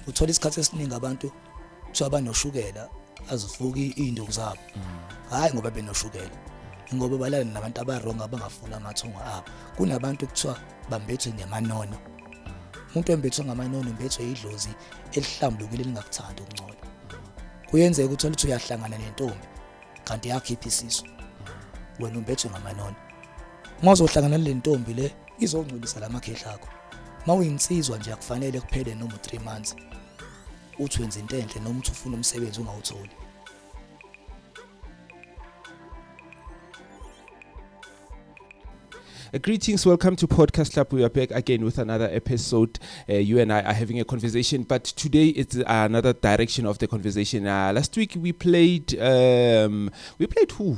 uthola isikhathi esiningi abantu kuthiwa banoshukela azifuki iy'nduku zabo hhayi ngoba benoshukela ngoba balala nabantu abarongo abangafuni amathongo abo kunabantu kuthiwa bambethwe ngemanono umuntu embethwe ngamanono mbethwe idlozi elihlambulukile elingakuthandi ukungcola kuyenzeka uthole ukuthi uyahlangana nentombi kanti yakhipha isisu wena umbethwe ngamanono mawuzohlangana le ntombi le izongcwelisa la makhehla akho mawuyinsizwa nje akufanele kuphele noma 3 months uthi wenza into enhle noma uthi ufuna umsebenzi ungawutholi Uh, greetings, welcome to Podcast Club. We are back again with another episode. Uh, you and I are having a conversation, but today it's uh, another direction of the conversation. Uh, last week we played, um, we played who?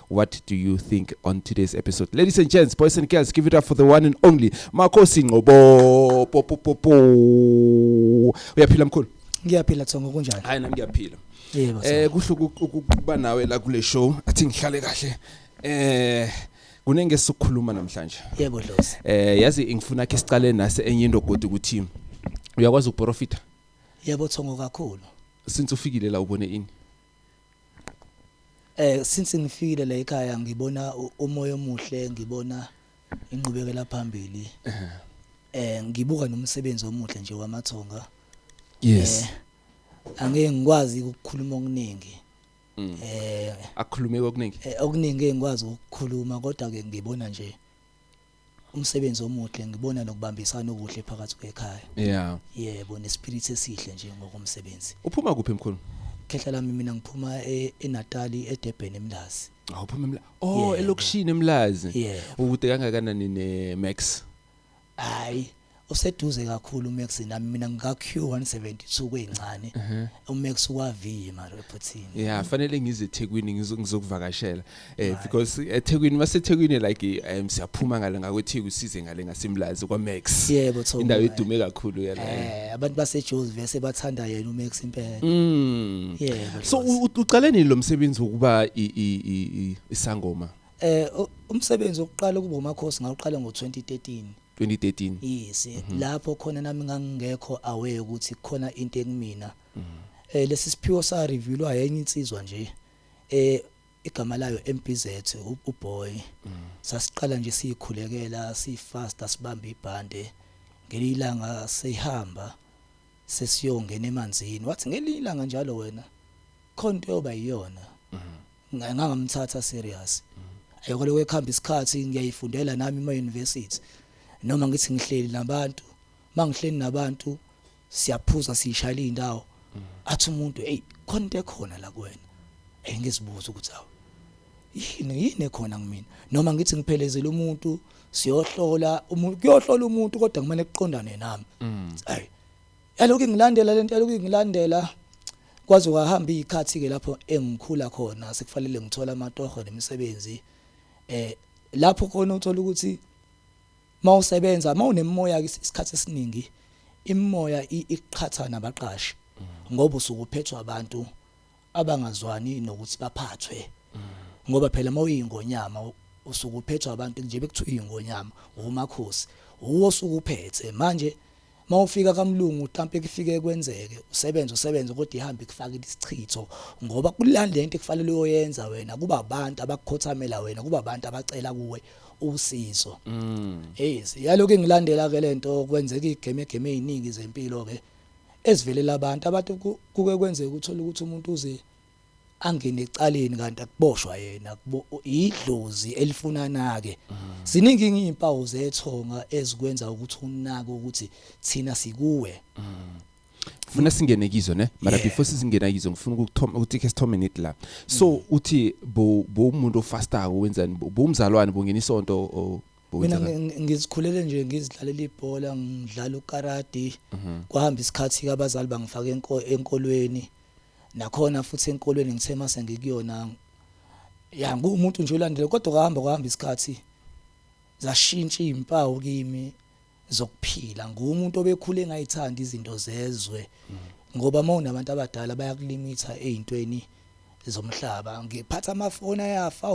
what do you think on today's episode ladies and gents boys and girls give it up for the one and only makhosi ngqobo popopopo uyaphila mkhulu ngiyaphila thongo kunjani hayi nami ngiyaphila yebo eh kuhle ukuba nawe la kule show athi ngihlale kahle eh kunenge sokukhuluma namhlanje yebo dlozi eh yazi ngifuna ke siqale nase enye into godi ukuthi uyakwazi ukuprofita yebo thongo kakhulu since ufikile la ubone ini Eh since ngifikile la ekhaya ngibona umoya omuhle ngibona inqubekela phambili. Eh ngibuka nomsebenzi omuhle nje wamathonga. Yes. Eh, angeke ngikwazi ukukhuluma okuningi. Mm. Eh akhulumeke okuningi. Eh, okuningi engikwazi ukukhuluma kodwa ke ngibona nje umsebenzi omuhle ngibona nokubambisana okuhle phakathi kwekhaya yeah yebo nespirit esihle nje ngokomsebenzi uphuma kuphi mkhulu khehla lami mina ngiphuma e- eNatali eDurban eMlazi Ah, uphuma emla oh elokishini emlazi ukude kangakanani ne max hayi useduze kakhulu uMax nami mina ngika Q172 kwencane mhm. uMax waviye mara ephuthini yeah fanele ngize eThekwini ngizokuvakashela eh because eThekwini maseThekwini like um siyaphuma ngale ngakweTheku size ngale ngasemlazi kwaMax yebo thola indawo edume kakhulu yala eh abantu baseJozi vese bathanda yena uMax impela mm yeah so uqale nini lo msebenzi wokuba isangoma eh umsebenzi wokuqala ukuba umakhosi ngawuqala ngo2013 2013 yes mhm. lapho khona nami ngangingekho aware ukuthi khona into ekumina mhm. eh lesi siphiwo sa revealwa yenye insizwa nje eh igama layo MPZ uboy mhm. sasiqala nje siyikhulekela sifast asibamba ibhande ngelilanga sehamba sesiyongena emanzini wathi ngelilanga njalo wena khonto yoba iyona ngangamthatha serious ayoko lokho ekuhamba isikhathi ngiyayifundela nami ema university noma ngithi ngihleli nabantu mangihleli nabantu siyaphuza sishayela indawo athi umuntu hey khona into ekhona la kuwena hey ngizibuza ukuthi awu yini yini ekhona kumina noma ngithi ngiphelezela umuntu siyohlola umuntu kuyohlola umuntu kodwa kumele kuqondane nami mm. ayi Yalokhu ingilandela lento yalokhu ingilandela kwaze kwahamba izikhathi ke lapho engikhula khona sekufanele ngithola amatoho nemisebenzi eh lapho khona uthola ukuthi mawusebenza mawunemoya isikhathi esiningi imimoya iqhatha nabaqashi mm. ngoba usuke uphethwa abantu abangazwani nokuthi baphathwe mm. ngoba phela mawuyingonyama usuke uphethwa abantu nje bekuthiwa ingonyama umakhosi uwo sukuphethe manje Mawufika kamlungu utampe kufike kwenzeke usebenze usebenze kodwa ihambe kufakile isichitho ngoba kulanda into ekufanele uyoyenza wena kuba abantu abakukhothamela wena kuba abantu abacela kuwe usizo yes mm. yaloku engilandela ke lento kwenzeka igame game eziningi zempilo ke ezivelela abantu abantu kuke kwenzeka uthola ukuthi umuntu uze angene ecaleni kanti akuboshwa yena idlozi elifuna nake ziningi izimpawu zethonga ezikwenza ukuthi unake ukuthi thina sikuwe funa singene kizo ne mara before sizingena kizo ngifuna ukuthoma ukuthi ke sithome nit la so mm. uthi bo bo umuntu ofastako wenzani bo umzalwane bongena isonto mina ngizikhulele nje ngizidlalela ibhola ngidlala ukaradi mhm. kwahamba isikhathi abazali bangifaka enkolweni nakhona futhi enkolweni ngithe uma sengikuyona ya ngumuntu nje olandile kodwa kuhamba kuhamba isikhathi zashintsha izimpawu kimi zokuphila ngumuntu obekhule ngayithanda izinto zezwe ngoba uma unabantu abadala bayakulimitha ezintweni zomhlaba ngiphatha amafoni ayafa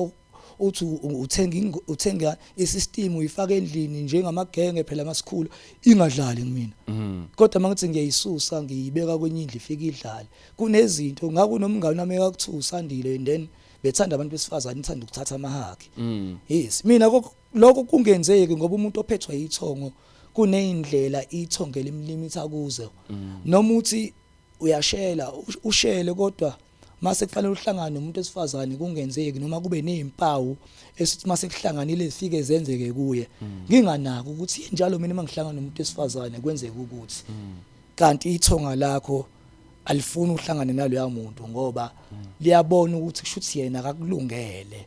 uthi uthenga uthenga isystem uyifaka endlini njengamagenge phela masikhulu ingadlali kumina mm. kodwa mangithi ngiyayisusa ngiyibeka kwenye indlu ifike idlale kunezinto ngaku nomngane wami ekakuthusa andile and then bethanda abantu besifazane ithanda ukuthatha amahaki mm. yes mina lokho kungenzeki ngoba umuntu ophethwe yithongo kuneyindlela ithongo elimlimitha kuzo mm. noma uthi uyashela ushele kodwa mase kufanele uhlangane nomuntu esifazane kungenzeki noma kube nezimpawu esithi mase kuhlanganile zifike zenzeke kuye mm. nginganaki ukuthi njalo mina mangihlangana nomuntu esifazane kwenzeka ukuthi mm. kanti ithonga lakho alifuni uhlangane naloya muntu ngoba mm. liyabona ukuthi kushuthi yena akakulungele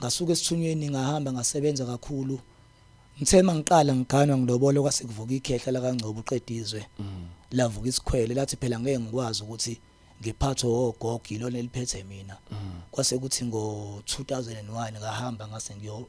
ngasuka esithunyweni ngahamba ngasebenza kakhulu ngithe mangiqala ngiganwa ngilobole kwase kuvuka ikhehla la kaNgcobo uqedizwe mm. lavuka isikhwele lathi phela ngeke ngikwazi ukuthi ngiphathwe ogogo yilona eliphethe mina mm. kwase kuthi ngo 2001 ngahamba ngase ngiyo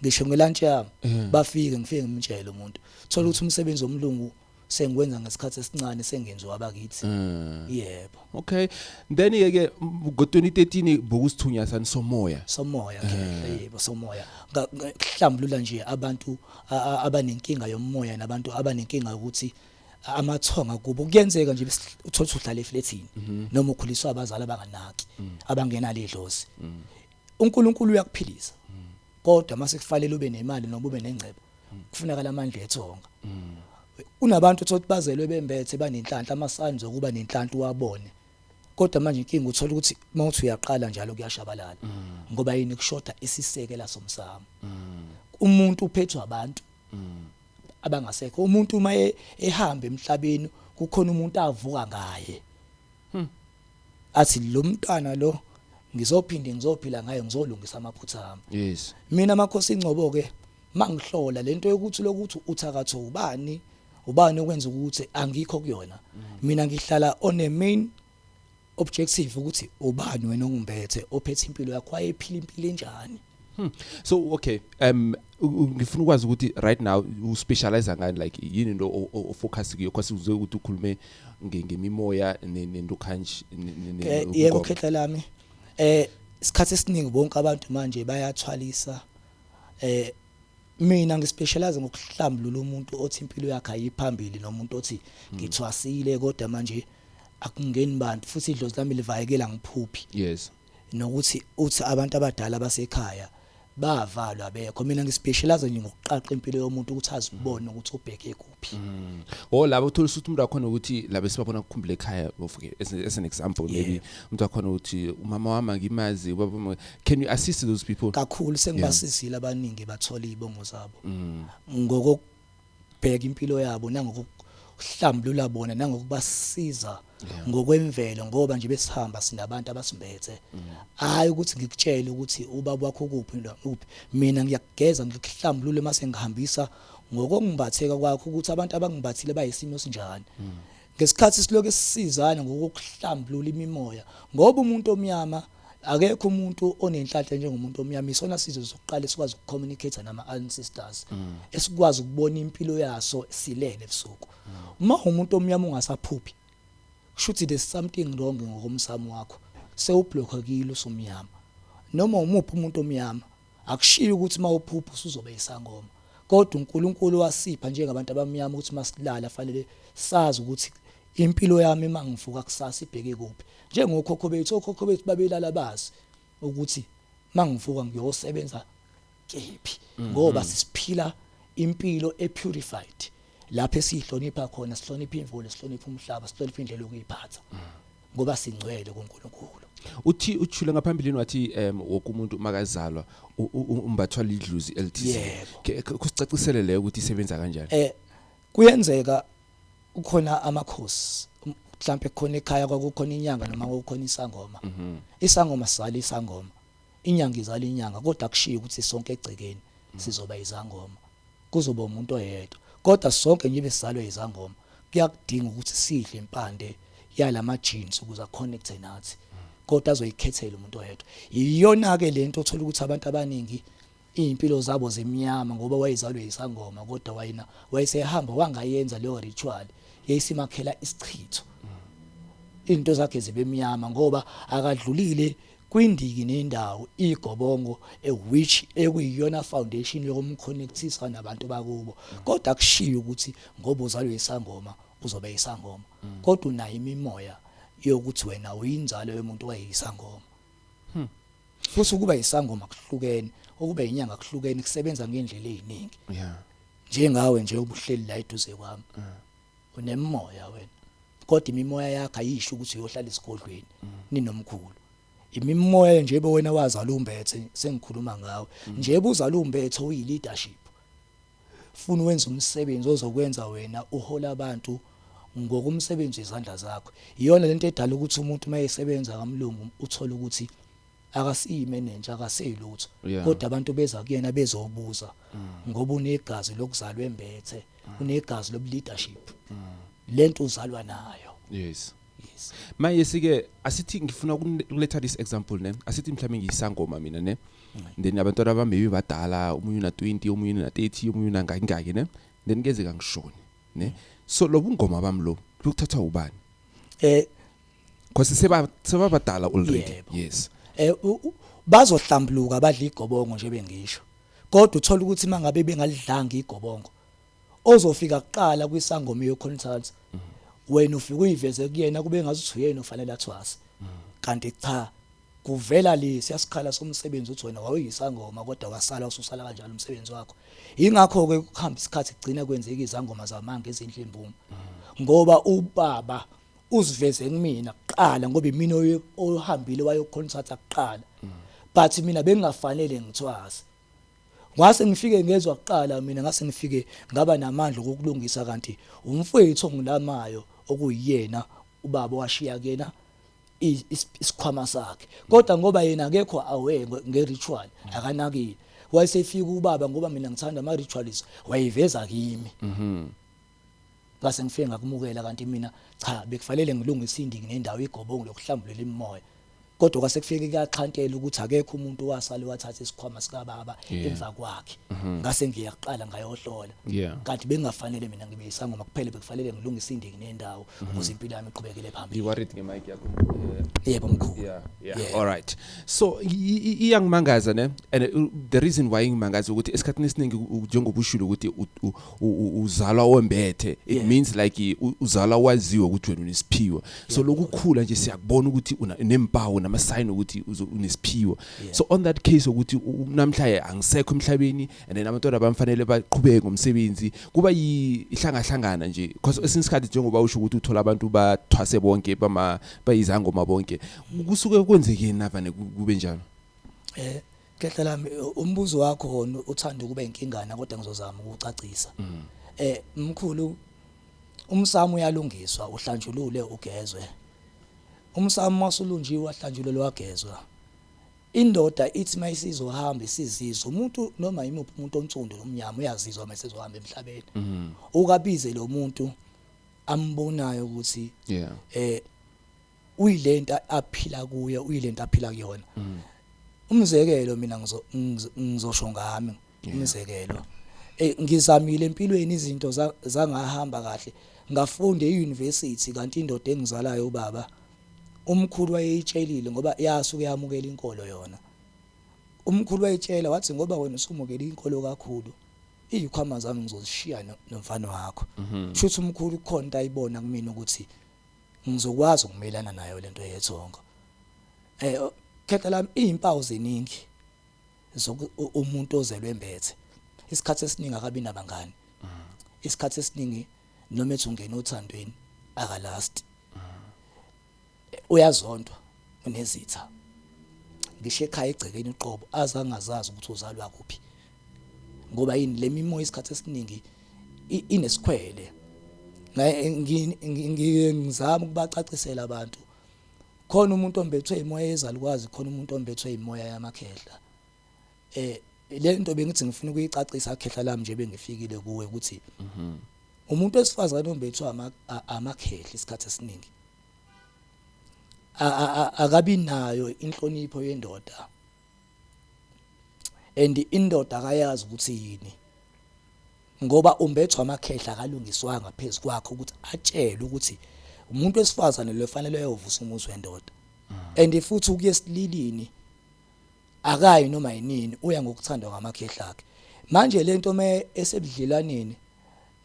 ngisho ngelunch yami mm. bafike ngifike ngimtshele umuntu thola ukuthi umsebenzi omlungu sengikwenza ngesikhathi esincane sengenziwa abakithi mm. yebo okay then yeke ngo-2013 bokusithunya sani somoya somoya eh. yebo somoya kuhlambulula nje abantu abanenkinga yomoya nabantu abanenkinga ukuthi amathonga kubo kuyenzeka nje uthola uhlala eflethini mhm. noma ukhuliswa abazali abanganaki mm. abangenalo idlozi mm. uNkulunkulu uyakuphilisa kodwa mase kufanele ube nemali noma ube nengcebo kufunakala amandla ethonga kunabantu othola ukuthi bazelwe bembethe banenhlanhla amasani zokuba nenhlanhla uwabone kodwa manje inkinga uthola ukuthi mawuthi uyaqala njalo kuyashabalala ngoba yini kushoda isisekela somsamo umuntu uphethwa abantu abangasekho umuntu uma e, ehamba emhlabeni kukhona umuntu avuka ngaye Hmm. Athi lo mntwana lo ngizophinde ngizophila ngaye ngizolungisa amaphutha ami. Yes. Mina makhosi ingcobo ke mangihlola lento yokuthi lokuthi uthakatho ubani ubani okwenza ukuthi angikho kuyona. Mm. Mina ngihlala on a main objective ukuthi ubani wena ongimbethe ophethe impilo yakho wayephila impilo enjani. Hmm. So okay, um ngifuna ukwazi ukuthi right now u specialize ngani like yini into o focus kuyo because uzoke ukuthi ukhulume ngemimoya nento kanjani ne eh, yebo khetha lami eh isikhathi esiningi bonke abantu manje bayathwalisa eh mina ngispecialize ngokuhlambulula umuntu othi impilo yakhe ayiphambili nomuntu othi hmm. ngithwasile kodwa manje akungeni bantu futhi idlozi lami livayekela ngiphuphi yes nokuthi uthi abantu abadala basekhaya bavalwa bekho mina ngispecialize nje ngokuqaqa impilo yomuntu ukuthi azibone ukuthi ubheke kuphi mm. oh labo uthola ukuthi umuntu wakhona ukuthi labo sibabona ukukhumbula ekhaya okay as, as an example yeah. maybe umuntu wakhona ukuthi umama wami ngimazi ubaba can you assist those people kakhulu sengibasizile yeah. abaningi bathola izibongo zabo mm. ngoko ngokubheka impilo yabo nangokuhlambulula bona nangokubasiza Yeah. ngokwemvelo ngoba nje besihamba sinabantu abasimbethe hayi ukuthi ngikutshele ukuthi ubaba wakho kuphi lo- uphi mina ngiyakugeza ngikuhlambulule mase ngihambisa ngokongimbatheka kwakho ukuthi abantu abangimbathile bayisimo sinjani ngesikhathi siloke sisizana ngokuhlambulula imimoya ngoba umuntu omnyama akekho umuntu onenhlanhla njengomuntu omnyama isona sizwe sokuqala esikwazi ukucommunicate nama ancestors mm. esikwazi ukubona impilo yaso silele ebusuku uma umuntu omnyama ungasaphuphi shuthi there's something wrong ngokomsamo wakho sewublockakile usumnyama noma umuphi umuntu omnyama Akushiyi ukuthi uma uphupha usuzoba yisangoma, kodwa uNkulunkulu wasipha njengabantu abamnyama ukuthi uma silala fanele sazi ukuthi impilo yami uma ngivuka kusasa ibheke kuphi. Njengokhokho bethu, okhokho bethu babelala bazi ukuthi uma ngivuka ngiyosebenza kephi mhm. ngoba sisiphila impilo e-purified lapho esiyihlonipha khona sihlonipha imvula sihlonipha umhlaba sihlonipha indlela yokuyiphatha mm. ngoba singcwele kuNkulunkulu uthi uthule ngaphambilini wathi em woke umuntu makazalwa u- u- u- umbathwa lidluzi elithize Yebo. Ke- ke- kusicacisele leyo ukuthi isebenza kanjani eh kuyenzeka kukhona amakhosi um- mhlambe khona ekhaya kwakukhona inyanga noma kukhona isangoma isangoma sali isangoma Inyanga izala inyanga kodwa akushiyi ukuthi sonke egcekeni sizoba izangoma. Kuzoba umuntu oyedwa. Kodwa sonke njibe sizalwa izangoma kuyakudinga ukuthi sidle impande yalama genes ukuze a connecte nathi. Kodwa azoyikhethela umuntu oyedwa. Iyona ke lento othola ukuthi abantu abaningi Izimpilo zabo zimnyama ngoba wayezalwe yisangoma kodwa wayena wayesehamba wangayenza leyo ritual yayisimakhela isichitho. Izinto zakhe zibemnyama ngoba akadlulile kwindiki nendawo igobongo a which ekuyiyona foundation yokumconnectisa nabantu bakubo. Kodwa akushiyo ukuthi ngoba uzalwe yisangoma uzobe yisangoma. Kodwa unayo imimoya yokuthi wena uyinzalo yomuntu wayeyisangoma. Hmm. Futhi ukuba isangoma kuhlukene, ukuba inyanga kuhlukene kusebenza ngendlela eziningi. Yeah. Njengawe nje ubuhleli la eduze kwami. Mm. Unemoya wena. Kodwa imimoya yakhe ayisho ukuthi uyohlala isigodlweni mm. ninomkhulu. Imimoya nje bewena wazala umbethe sengikhuluma ngawe. Mm. Nje buzala umbethe uyi leadership. Funa wenze umsebenzi ozokwenza wena uhole abantu ngokumsebenzi izandla zakho. Iyona lento edala ukuthi umuntu mayesebenza kamlungu uthola ukuthi akasiyi manager akaseyilutho yeah. kodwa abantu beza kuyena bezobuza mm. ngoba unegazi lokuzalwa embethe mm. unegazi lobu leadership mm. lento uzalwa nayo yes yes manje sike asithi ngifuna ukuletha this example ne asithi mhlawumbe ngiyisangoma mina ne then abantwana bami maybe badala umunye una 20 umunye una 30 umunye una ngaki ngaki ne then keze kangishoni ne so lobungoma bami lo lokuthathwa ubani eh because seba sebabadala already Yebo. yes eh u- u- bazohlambuluka badla igobongo nje bengisho kodwa uthola ukuthi mangabe bengalidlanga igobongo ozofika kuqala kwisangoma yoconsults wena ufike uyiveze kuyena kube ngazuthi uyena ofanele athwase kanti cha kuvela le siyasikhala somsebenzi uthi wena wawuyisangoma kodwa wasala ususala kanjalo umsebenzi wakho ingakho ke kuhamba isikhathi kugcina kwenzeka izangoma zamanga ezinhle imbumo ngoba ubaba uziveze kumina kuqala ngoba imina ohambile wayoconsulta kuqala but mina bengingafanele ngithwase Ngase ngifike ngezwa kuqala mina ngase ngifike ngaba namandla okukulungisa kanti umfowethu ongilamayo okuyiyena ubaba washiya kuyena isikhwama sakhe kodwa ngoba yena akekho awe ngeritual akanakile wayesefika ubaba ngoba mina ngithanda ama rituals wayiveza kimi mhm Ngase ngifike ngakumukela kanti mina cha bekufanele ngilunge isindingi nendawo igobongo lokuhlambulela imimoya. Kodwa kwase kufike kuyaxhantela ukuthi akekho umuntu wasale wathatha isikhwama sikababa yeah. emva kwakhe. Mm -hmm. Ngase ngiya kuqala ngayohlola. Yeah. Kanti bengafanele mina ngibe isangoma kuphela bekufanele ngilunge isindingi nendawo mhm. ukuze mm -hmm. impilo yami iqhubekele phambili. You worried ngemic yakho? Yebo mkhulu. Yeah. Yeah. yeah. All right. So iyangimangaza ne and uh, the reason why ngimangaza ukuthi esikhathini esiningi njengoba ushilo ukuthi uzalwa wembethe it yeah. means like uzalwa waziwe ukuthi wena unesiphiwo so yeah. lokukhula nje siyakubona ukuthi unempawu nama sign ukuthi unesiphiwo yeah. so on that case ukuthi namhlanje angisekho emhlabeni and then abantwana bamfanele baqhubeke ngomsebenzi kuba ihlangahlangana nje because mm. esinesikhathi njengoba usho ukuthi uthola abantu bathwase bonke bama bayizangoma bonke kusuke kwenzekeni navane kube njalo eh Khehla lami umbuzo wakho wona uthanda ukuba inkingana kodwa ngizozama ukucacisa. Mm. Eh mkhulu umsamo uyalungiswa uhlanjulule ugezwe. Umsamo masulunjiwe wahlanjulelwa wagezwa. Indoda ithi mayisizohamba isizizwa umuntu noma imuphi umuntu onsundu nomnyama uyazizwa mayisezohamba emhlabeni. Mm. Ukabize lo muntu ambonayo ukuthi yeah. eh uyilento aphila kuyo uyilento aphila kuyona mm. umzekelo mina ngizosho ngami umzekelo eh ngizamile empilweni izinto zangahamba kahle ngafunda euniversity kanti indoda engizalayo ubaba umkhulu wayeyitshelile ngoba yasuke yamukela inkolo yona umkhulu wayitshela wathi ngoba wena usumukela inkolo kakhulu izikhwama zami ngizozishiya nomfana wakho mhm. shuthi umkhulu khona ayibona kumina ukuthi ngizokwazi ukumelana nayo lento yethongo eh khetha lami izimpawu zeningi umuntu ozelwe mbethe isikhathi esiningi akabi nabangani isikhathi esiningi noma ethi ungena othandweni akalast uyazontwa unezitha ngisho ekhaya egcekeni uqobo azangazazi ukuthi uzalwa kuphi ngoba yini lemimoya isikhathi esiningi inesikhwele ngizama ukubacacisela abantu khona umuntu ombethwe imoya yezalukwazi khona umuntu ombethwe imoya yamakhehla eh lento bengithi ngifuna ukuyicacisa akhehla lami nje bengifikile kuwe ukuthi mhm. umuntu wesifazane ombethwe amakhehla isikhathi esiningi akabi nayo inhlonipho yendoda and indoda akayazi ukuthi yini ngoba umbethwa amakhehla akalungiswanga phezu kwakhe ukuthi atshelwe ukuthi umuntu wesifazane lo fanele ayovusa umuzi wendoda and futhi ukuya esililini akayi noma yinini uya ngokuthandwa ngamakhehla akhe manje lento me esebudlelwaneni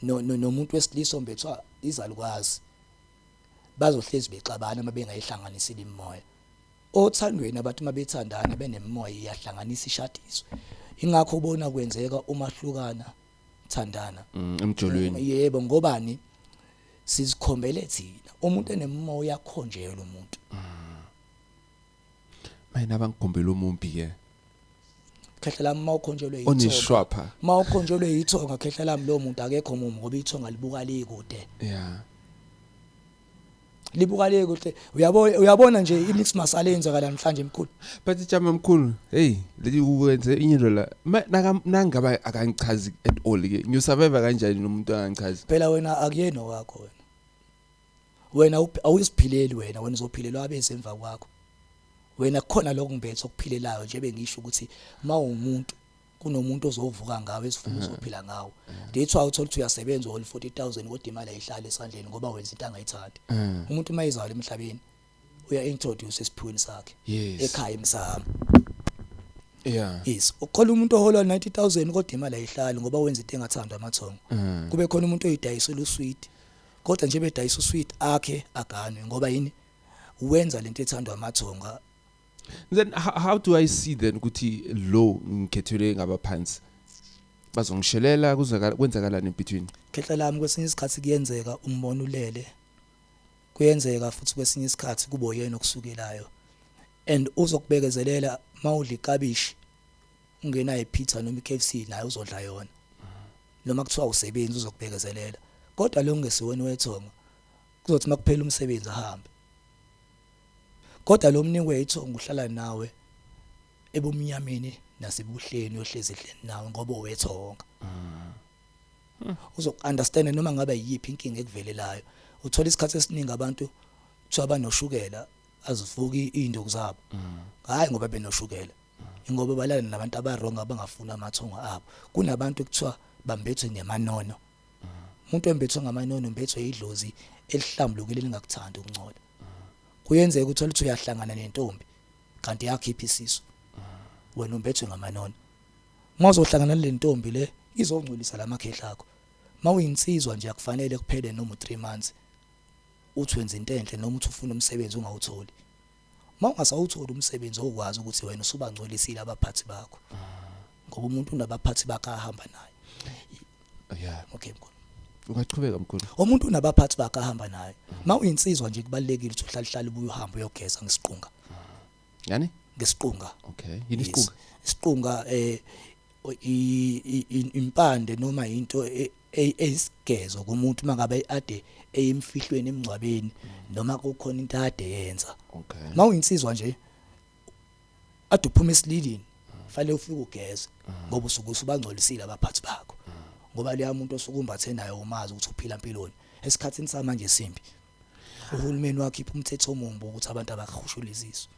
nomuntu wesilisa ombethwa izalukazi bazohlezi bexabana uma bengayihlanganisile imimoya Othandweni abathi uma bethandana benemimoya iyahlanganisa ishadiswe. Ingakho ubona kwenzeka uma hlukana thandana. Mm, emjolweni. Yebo ngobani? Sizikhombele thina. Umuntu enemimoya uyakhonjela umuntu. Mina bangikhombela umumbi ke. khehla lami uma ukhonjelwe yithonga Onishwapha. uma ukhonjelwe yithonga khehla lami lowo muntu akekho mumu ngoba ithonga libuka likude Yeah. libuka le kuhle uyabo uyabona nje imix masale yenzakala namhlanje mkhulu but jama mkhulu hey leli uwenze inye lola nangaba akangichazi at all ke ngiyo survivor kanjani nomuntu angichazi phela wena akuyena wakho wena wena awusiphileli wena wena uzophilelwa abese emva kwakho wena khona lokho ngibethe okuphilelayo nje bengisho ukuthi mawumuntu kunomuntu ozovuka ngawo esifuba mm-hmm. uzophila ngawo mm-hmm. that's why uthola ukuthi uyasebenza uhole 40000 kodwa imali ayihlali esandleni ngoba wenza into angayithandi mm. umuntu uma izala emhlabeni uya introduce esiphweni sakhe ekhaya emsamo Yeah. Yes. Ukhola umuntu ohola 90000 kodwa imali ayihlali ngoba wenza into engathandwa amathongo. Mm. Kube khona umuntu oyidayisela usweet. Kodwa nje bedayisa usweet akhe aganwe ngoba yini? Wenza lento ethandwa amathonga then how, how do i see then ukuthi lo ngikhethelwe ngabaphansi bazongishelela kuzakala kwenzakalani in between khehla lami kwesinye isikhathi kuyenzeka umbona ulele kuyenzeka futhi kwesinye isikhathi kubo yena okusukelayo and uzokubekezelela mawudla ikabishi ungena epizza noma iKFC naye uzodla yona noma kuthiwa usebenzi uzokubekezelela kodwa lo ngesiwena wethonga kuzothi makuphela umsebenzi ahambe Kodwa lo Mnini wethongo uhlala nawe ebumnyameni nasebuhleni uyohlezi edleni nawe ngoba owethonga. Uzokunderstand noma ngabe yiyiphi inkinga ekuvelelayo. Uthola isikhathi esiningi abantu kuthiwa banoshukela azivuki izinduku zabo. Hayi ngoba benoshukela. Ingoba balala nabantu abawrong abangafuni amathongo abo. Kunabantu kuthiwa bambethwe ngemanono. Umuntu embethwe ngamanono umbethwe idlozi elihlambulukile elingakuthandi ukuncola. kuyenzeka ukuthi oluthi uyahlangana nentombi kanti yakhipha isisu wena umbethwe ngamanona mawuzohlangana le ntombi le izongcolisa lamakhehla akho mawuyinsizwa nje akufanele kuphele noma 3 months uthi wenza into enhle noma uthi ufuna umsebenzi ungawutholi mawungasawutholi umsebenzi okwazi ukuthi wena usubangcolisile abaphathi bakho ngoba umuntu unabaphathi bakhe ahamba naye yeah okay mkhulu ungachubeka mkhulu umuntu unabaphathi bakhe ahamba naye ma uyinsizwa nje kubalekile ukuthi uhlale hlale ubuye uhambe uyogeza ngesiqunga yani ngesiqunga okay yini isiqunga isiqunga eh impande noma into e, e, eyisigezo kumuntu mangabe ade eyimfihlweni emngcwabeni noma kukhona into ade yenza okay ma uyinsizwa nje ade uphuma esililini fanele ufike ugeze ngoba usuke usubangcolisile abaphathi bakho ngoba leya muntu osukumbathe naye umazi ukuthi uphila impilweni esikhathini samanje simbi uhulumeni wakhipha umthetho omumbi ukuthi abantu abahushuliziswe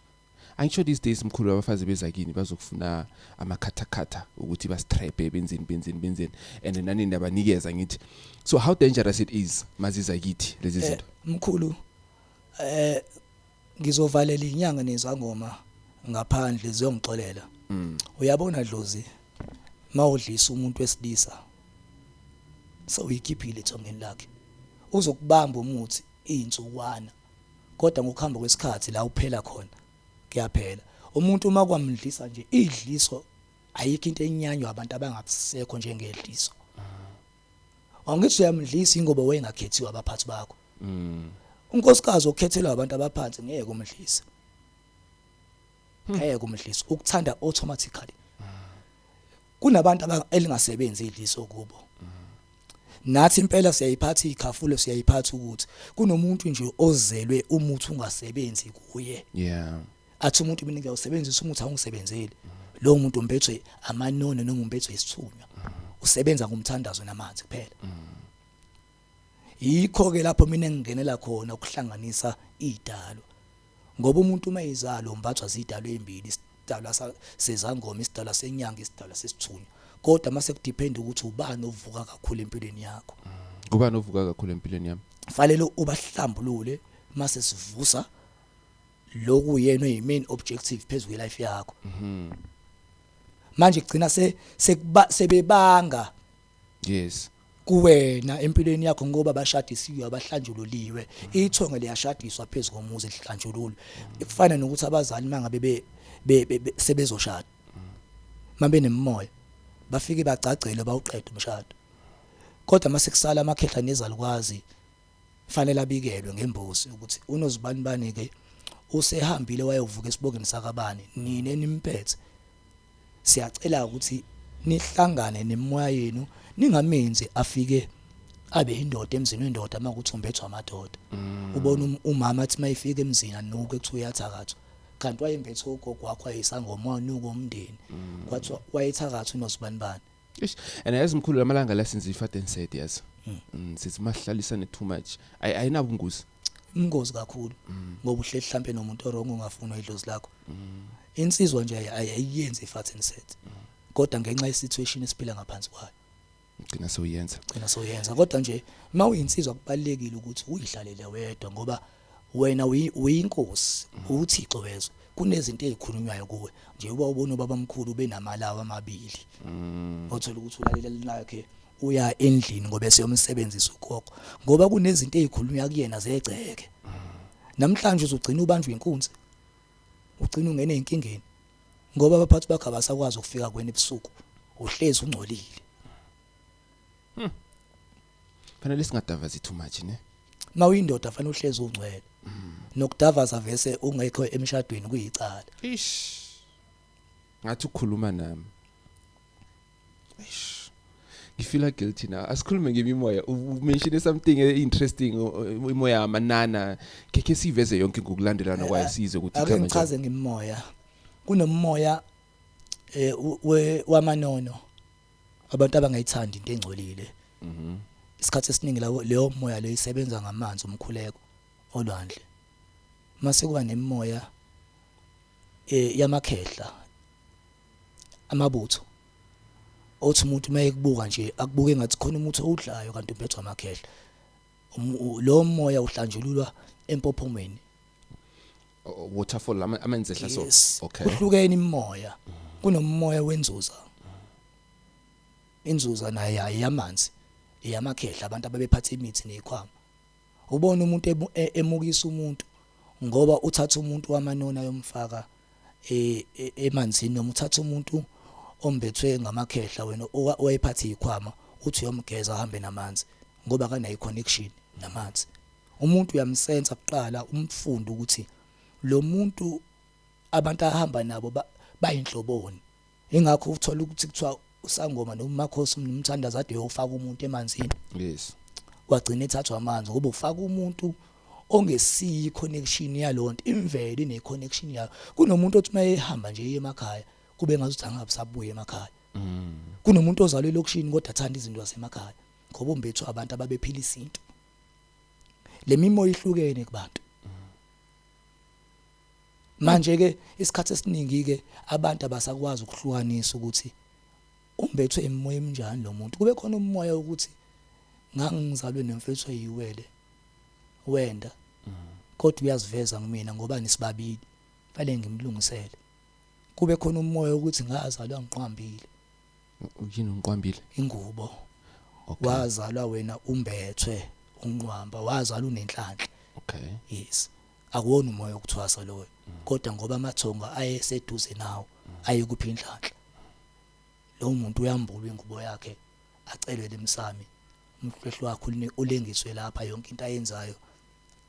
angisho these days mkhulu abafazi beza kini bazokufuna amakhathakhatha ukuthi bastrebe benzeni benzeni benzeni and nani ndabanikeza ngithi so how dangerous it is maziza kithi lezi eh, zinto mkhulu eh Ngizovalela inyanga nezangoma ngaphandle ziyongixolela. Mm. Uyabona Dlozi mawudlisa umuntu wesilisa sewuyikhiphile ethongeni lakhe. Uzokubamba umuthi izinsukwana. Kodwa ngokuhamba kwesikhathi la uphela khona kuyaphela. Umuntu uma kwamdlisa nje idliso ayikho into enyanywa abantu abangabisekho njengedliso. Awungithi uyamdlisa ingoba wayengakhethiwe abaphathi bakho. Mm. Unkosikazi okhethelwa abantu abaphansi ngeke umdlise. Hmm. Ngeke umdlise. Ukuthanda automatically. Kunabantu elingasebenzi idliso kubo. Nathi impela siyayiphatha ikhafulo siyayiphatha ukuthi kunomuntu nje ozelwe umuthi ungasebenzi kuye. Yeah. athi umuntu mina ngiyawusebenzisa umuthi awungisebenzeli lowo muntu umbethwe amanono noma umbethwe isithunywa usebenza ngomthandazo namanzi kuphela yikho ke lapho mina ngingenela khona ukuhlanganisa idalo ngoba umuntu uma izalo umbathwa zidalo ezimbili isidalwa sezangoma isidalwa senyanga isidalwa sesithunywa kodwa mase kudepend ukuthi ubani ovuka kakhulu empilweni yakho ubani ovuka kakhulu empilweni yami fanele ubahlambulule mase sivusa lokhu uyena oyi main objective phezulu kwe life yakho mhm manje kugcina se sebebanga yes kuwena empilweni yakho ngoba bashadisiwe abahlanjululiwe ithonga liyashadiswa phezulu komuzi lihlanjululwe kufana nokuthi abazali mangabe be sebezoshada mabe nemimoya bafike bagcagcele bawuqede umshado kodwa mase kusala amakhehla nezalukwazi Kufanele abikelwe ngembuzi ukuthi unozibanibani ke usehambile wayovuka esibongeni sakabani nini enimphethe. Siyacela ukuthi nihlangane nemoya yenu ningamenzi afike abe indoda emzini wendoda uma kuthi umbethwa amadoda mm. ubona um, umama athi mayifika emzini anuke kuthiwa uyathakathwa kanti wayembethe ugogo wakho ayisangoma wanuka umndeni mm. kwathiwa wayethakathwa unozibanibani Eish, and yazi mkhulu lamalanga la since ifat and said yazi. Mm, sithi masihlalisane too much. Ay ayinabungozi. ingozi kakhulu ngoba uhleli mhlampe nomuntu orong ungafuni idlozi lakho insizwa nje ay- ay- ayiyenzi ifat and set kodwa ngenxa yesituation esiphila ngaphansi kwayo Ngicina soyenza. gcina soyenza kodwa nje uma uyinsizwa kubalekile ukuthi uyihlalele wedwa ngoba Wena uyi- uyinkosi, uwuthixo wezwe. Kunezinto ezikhulunywayo kuwe. Njengoba ubona ubabamkhulu benamalawu amabili. Othola ukuthi ulalela linakhe uya endlini ngoba eseyomsebenzisa ugogo. Ngoba kunezinto ezikhulunywa kuyena zegceke. Namhlanje uzogcina ubanjwe inkunzi. Ugcina ungene enkingeni. Ngoba abaphathi bakhe abasakwazi ukufika kuwena ebusuku. Uhlezi ungcolile. fanele singadavazi too much ne mawuyindoda fanele uhlezi ungcwele mm. nokudavaza vese ungekho emshadweni kuyicala ish ngathi ukhuluma nami ish ngifila guilty na asikhulume ngemimoya umention something eh, interesting imoya yamanana kekhe siveze yonke ngokulandelana kwayo eh, size ukuthi ake ngichaze ngemimoya kunomoya eh wamanono abantu abangayithandi into engcolile mhm isikhathi esiningi lawo leyo moya leyo isebenza ngamanzi umkhuleko olwandle mase kuba nemoya eh yamakhehla amabutho othi umuntu uma ekubuka nje akubuke ngathi khona umuntu owudlayo kanti uphethwa amakhehla um, lo moya uhlanjululwa empophomweni waterfall ama- amanzi ehla so yes okay kuhlukene imimoya kunomoya wenzuza inzuza naye ayiyamanzi iyamakhehla abantu ababephatha imithi nezikhwama ubona umuntu emu- e- emukisa umuntu ngoba uthatha umuntu wamanona yomfaka e- e- emanzini noma uthatha umuntu ombethwe ngamakhehla wena owa- owayephatha izikhwama uthi uyomgeza ahambe namanzi ngoba kanayi connection namanzi Umuntu uyamsensa kuqala umfunde ukuthi lo muntu abantu ahamba nabo ba, bayinhloboni. Ingakho uthola ukuthi kuthiwa usangoma noma umakhosi umthandaza ade yofaka umuntu emanzini. Yes. Wagcina ethathwa amanzi ngoba ufaka umuntu ongesiyi connection yalonto imvelo ine connection yayo. Kunomuntu othi mayehamba nje emakhaya kube ngazuthi angabusabuye emakhaya. Mm. Kunomuntu ozalwe lokishini kodwa athanda izinto zasemakhaya ngoba umbethu abantu ababephila isintu. lemimoya ihlukene kubantu manje ke isikhathi esiningi ke abantu abasakwazi ukuhlukanisa ukuthi umbethwe emoya emnjani lo muntu kube khona umoya ukuthi ngangizalwe nemfethu eyiwele wenda kodwa uyaziveza kumina ngoba nisibabili fanele ngimlungisele kube khona umoya ukuthi ngazalwa ngiqhambile Yini unqwambile? Ingubo. Okay. Wazalwa wena umbethwe unqwamba, wazalwa unenhlanhla. Okay. Yes. Akuwona umoya okuthwasa loyo. Mm. Kodwa ngoba amathonga ayeseduze nawo mm. ayekuphi inhlanhla. Lo muntu uyambulwa ingubo yakhe acelele emsami. Umhlehlo wakho ulengiswe lapha yonke into ayenzayo.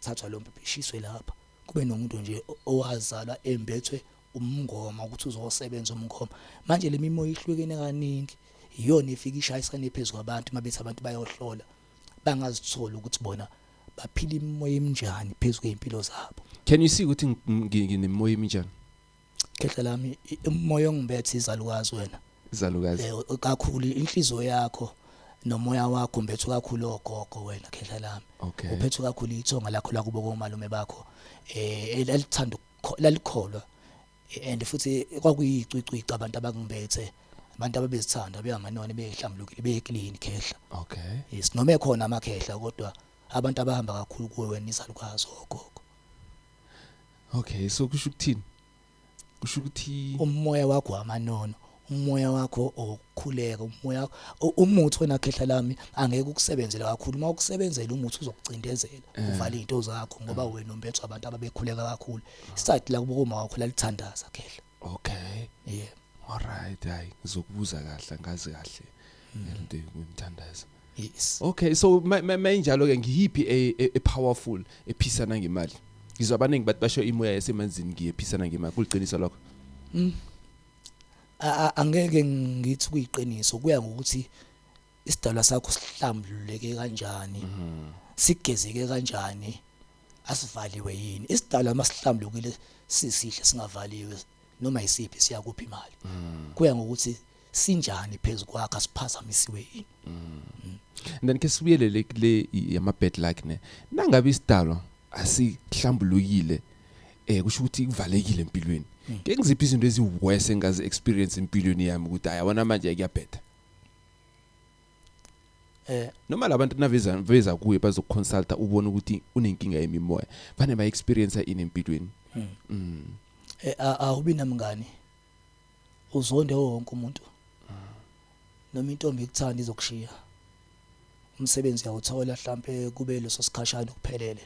Thathwa lo mphishiswe lapha. Kube nomuntu nje owazalwa embethwe umngoma ukuthi uzosebenza umngoma manje lemimoya ihlukene kaningi iyona efika ishayisane phezulu kwabantu mabethi abantu bayohlola bangazithola ukuthi bona baphila imimoya eminjani phezulu kwempilo zabo can you see ukuthi nginemoya eminjani khehla lami umoya ongibethe izalukazi wena izalukazi eh, kakhulu inhliziyo yakho nomoya wakho umbethu kakhulu ogogo wena khehla lami okay. uphethwe kakhulu ithonga lakho lakubo komalume bakho eh elithanda lalikholwa and futhi kwakuyicwicwi abantu abangimbethe abantu ababezithanda beyanganone behlambulukile beclean khehla okay yes noma ekhona amakhehla kodwa abantu abahamba kakhulu kuwe wena izalukazi ogogo okay so kusho ukuthini kusho ukuthi umoya wakho amanono umoya wakho okukhuleka umoya umuthi wena khehla lami angeke ukusebenzele kakhulu uma ukusebenzela umuthi uzokucindezela eh. uvale izinto zakho ngoba eh. wena umbethu abantu ababekhuleka kakhulu isathi la kuboma wakho lalithandaza khehla okay yeah all right hayi ngizokubuza kahle ngazi kahle hmm. ngento ngimthandaza yes okay so mayinjalo ke ngiyiphi e, e, e powerful ephisana ngemali ngizwa abaningi bathi basho imoya yasemanzini ngiyephisana ngemali kuliqiniso lokho mm. angeke ngithi kuyiqiniso kuya ngokuthi isidalwa sakho sihlambululeke kanjani mhm. sigezeke kanjani asivaliwe yini isidalwa masihlambulukile sisihle singavaliwe noma isiphi siyakuphi imali mhm. kuya ngokuthi sinjani phezulu kwakhe asiphazamisiwe yini mhm. then ke sibuyelele kule yama bad luck ne nangabe isidalwa asihlambulukile eh kusho ukuthi kuvalekile empilweni hmm. ke ngiziphi izinto eziworse engazi experience empilweni yami ukuthi ayabona manje kuyabhetha eh noma labantu naveza veza kuye bazokuconsulta ubone ukuthi unenkinga yemimoya bane ba experience ini empilweni hmm. mm eh awubi namngani uzonde wonke umuntu noma intombi ikuthanda izokushiya umsebenzi uyawuthola mhlambe kube leso sikhashana ukuphelele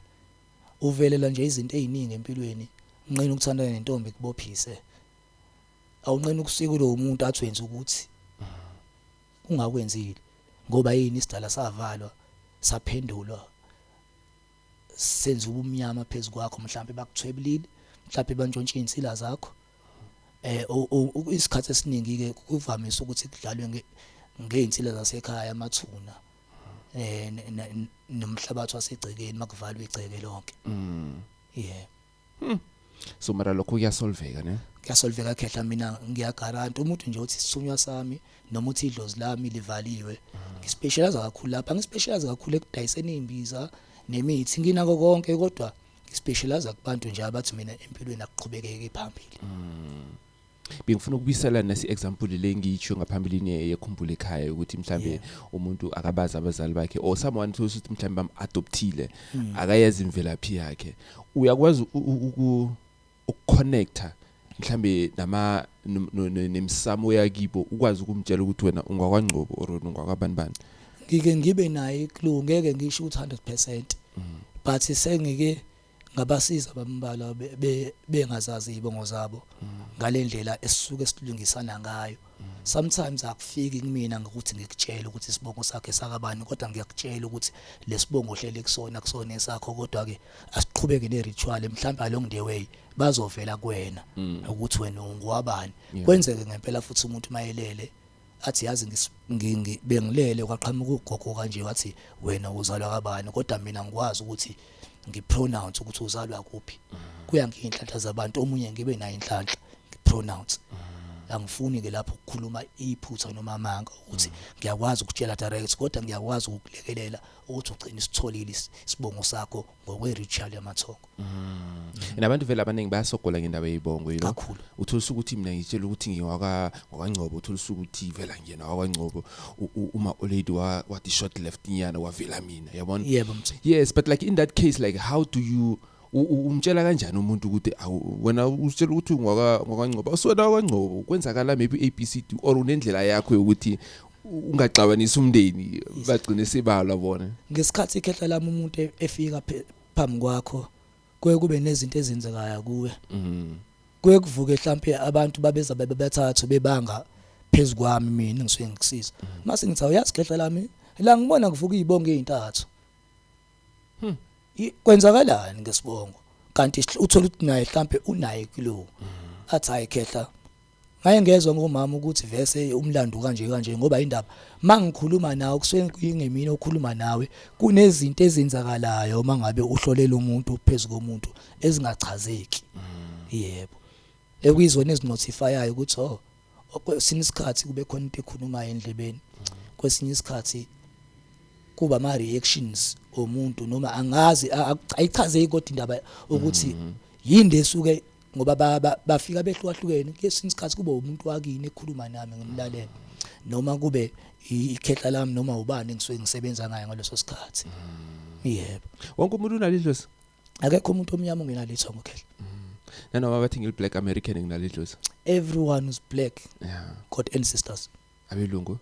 uvelelwa nje izinto eziningi empilweni unqena ukuthandana nentombi kubophise awunqena ukusika kulowo muntu athi wenza ukuthi ungakwenzile ngoba yini isidala savalwa saphendulwa senza ubumnyama phezulu kwakho mhlawumbe bakuthwebulile mhlawumbe bantshontshe insila zakho eh isikhathi esiningi ke kuvamise ukuthi kudlalwe ngeinsila zasekhaya amathuna eh ne- ne- ne- nomhlabathi wasegcekeni makuvalwa igceke lonke Mm. yeah So mara lokho kuyasolveka ne? kuyasolveka khehla mina ngiyagaranta umuntu nje uthi isithunywa sami noma uthi idlozi lami livaliwe ngispecialize kakhulu lapha ngispecialize kakhulu ekudayiseni imbiza nemithi nginako konke kodwa ngispecialize kubantu nje abathi mina empilweni akuqhubekeke phambili bengifuna ukubisela nasi example le ngiyitsho ngaphambilini yekhumbula ekhaya ukuthi mhlambe yeah. umuntu akabazi abazali bakhe or someone who ukuthi mhlambe bam adoptile mm. akayazi imvelaphi yakhe uyakwazi ukuconnecta mhlambe nama nemsamo yakibo ukwazi ukumtshela ukuthi wena ungakwangcobo or ungakwabani bani ngike ngibe naye clue ngeke ngisho ukuthi 100% mm. but sengike ngabasiza bambalwa bengazazi izibongo zabo ngalendlela esisuke silungisana ngayo sometimes akufiki kumina ngokuthi ngikutshele ukuthi isibongo sakhe sakabani kodwa ngiyakutshela ukuthi lesibongo hlele kusona kusona esakho kodwa ke asiqhubeke ne ritual mhlawumbe along the way bazovela kuwena mm. ukuthi wena ungwabani kwenzeke ngempela futhi umuntu mayelele athi yazi ngis- ngi- ngi- bengilele kwaqhamuka ugogo kanje wathi wena uzalwa kabani kodwa mina ngikwazi ukuthi ngipronounce ukuthi uzalwa kuphi kuyangiyinhlanhla zabantu omunye ngibe naye inhlanhla ngipronounce angifuni ke lapho ukukhuluma iphutha noma amanga ukuthi ngiyakwazi ukutshela direct kodwa ngiyakwazi ukukulekelela ukuthi ugcine isitholile is- isibongo sakho ngokwe-ritual yamathongo mm. and abantu vele abaningi bayasogola ngendaba yeyibongo you know kakhulu utholisa ukuthi mina ngitshela ukuthi ngiwaka ngwakangcobo utholisa ukuthi vela ngiyena wakwangcobo uma olady wa wathi short left nyana wavela mina yabona yebo yes but like in that case like how do you umtshela kanjani umuntu ukuthi wena usitshela ukuthi ungwaka ngwakangcobo usona kwangcobo kwenzakala maybe ABCD or unendlela yakho yokuthi ungaxabanisa umndeni bagcine sibalwa bona ngesikhathi ikhehla lami umuntu e- efika phe- phambi kwakho kuye kube nezinto ezenzekayo kuwe mhm kuye kuvuke mhlampe abantu babeza bebe bethathu bebanga phezu kwami mina ngisuke ngikusiza mase ngithi awuyazi khehla lami la ngibona kuvuka izibongo ezintathu I- kwenzakalani ngesibongo kanti sihl- uthola ukuthi naye mhlampe unaye kulo athi hayi khehla Ngaye ngezwa ngomama ukuthi vese umlando kanje kanje ngoba indaba mangikhuluma nawe kusuke kungemini okhuluma nawe kunezinto ezenzakalayo uma ngabe uhlolela umuntu phezu komuntu ezingachazeki mm. yebo ekuyizona ezinotifayayo ukuthi oh kwesinye isikhathi kube khona into ekhulumayo endlebeni mm. kwesinye isikhathi kuba ama reactions omuntu noma angazi ayichazeki kodwa indaba ukuthi mm. yini lesuke ngoba ba- ba- bafika behlukahlukene kesinye isikhathi kube umuntu wakini ekhuluma nami ngimlalela noma kube i- ikhehla lami noma ubani engisuke ngisebenza ngayo ngaleso sikhathi yebo wonke umuntu unalidlozi akekho umuntu omnyama ongenalitho ngokhehla nanoma bathi ngiliblack american nginalidlozi everyone is black ya god ancestors abelungu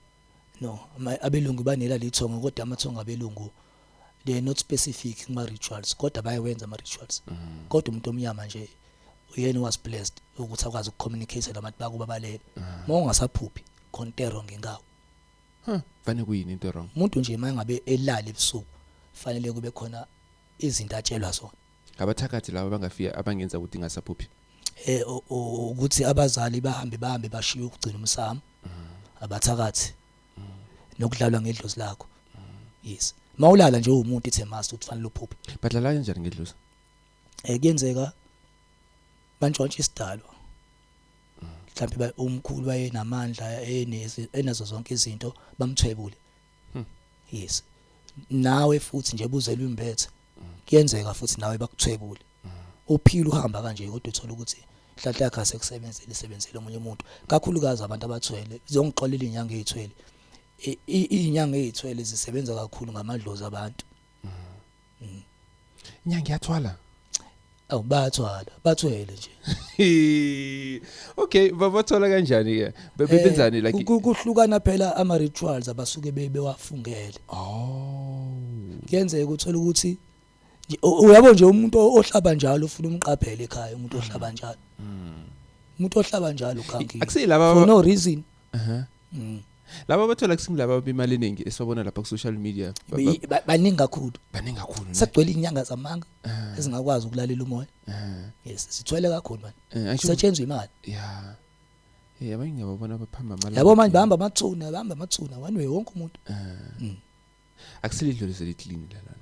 no ma- abelungu banela lithongo kodwa amathongo abelungu they are not specific kuma rituals kodwa bayawenza ama rituals mm. kodwa umuntu omnyama nje uyena was blessed ukuthi akwazi ukucommunicate labantu bakuba balele mm. uma ungasaphuphi contero ngenkawo huh fanele kuyini into wrong umuntu nje mangabe elala ebusuku fanele kube khona izinto atshelwa zona ngabathakathi laba bangafika abangenza ukuthi ngasaphuphi eh ukuthi abazali bahambe bahambe bashiye ukugcina umsamo mm. abathakathi nokudlalwa ngedlozi lakho yes mawulala nje umuntu ithe must ukuthi fanele uphuphe badlala kanjani ngedlozi eh kuyenzeka bantshontsha isidalwa mhlawumbe umkhulu wayenamandla enazo zonke izinto bamthwebule hmm. yes nawe futhi nje buzelwe imbethe kuyenzeka futhi nawe bakuthwebule uphila uhamba kanje kodwa uthola ukuthi inhlanhla yakhe asekusebenzele isebenzele omunye umuntu kakhulukazi abantu abathwele ziyongixolela inyanga ezithwele inyanga ezithwele zisebenza kakhulu ngamadlozi abantu mm. inyanga iyathwala Awu bayathwala, bathwele nje. okay, babathola kanjani ke? Bebenzani eh, like kuhlukana phela ama rituals abasuke bewafungele. Oh. Kuyenzeka ukuthola ukuthi uyabo nje umuntu ohlaba njalo ufuna umqaphele ekhaya umuntu mm. ohlaba njalo. Mm. Umuntu ohlaba njalo khangi. Akusile laba for no reason. Uh-huh. Mm. laba bathola kusini laba bemali eningi esibabona lapha ku-social media ba- ba- Yi- ba- baningi kakhulu baningi kakhulu ne? sagcwele inyanga zamanga Ah, ezingakwazi ukulalela umoya ah, yes sithwele kakhulu manje eh, angisho- kusetshenzwa imali ya Eh, abanye ngiyababona baphamba amalanga yabo manje athile. bahamba amathuna bahamba amathuna one way wonke umuntu Ah. Mm. akusile idlule seliklini lana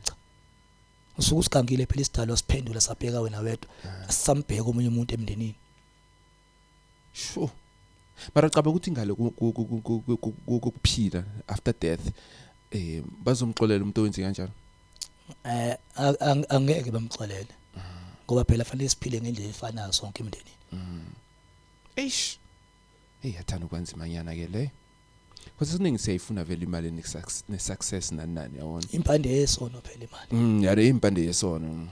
usuke usigangile phela isidalwa siphendula sabheka wena wedwa asisambheka omunye umuntu emndenini sho mara cabanga ukuthi ngale kokuphila after death eh bazomxolela umuntu owenze kanjalo eh angeke bamxolele ngoba phela fanele siphile ngendlela efanayo sonke emndenini mm. eish hey yathanda ukwanzima nyana ke le Because isiningi siyayifuna vele imali ne success ne success nani nani yabona. impande yesono phela imali Mm yare impande yesono.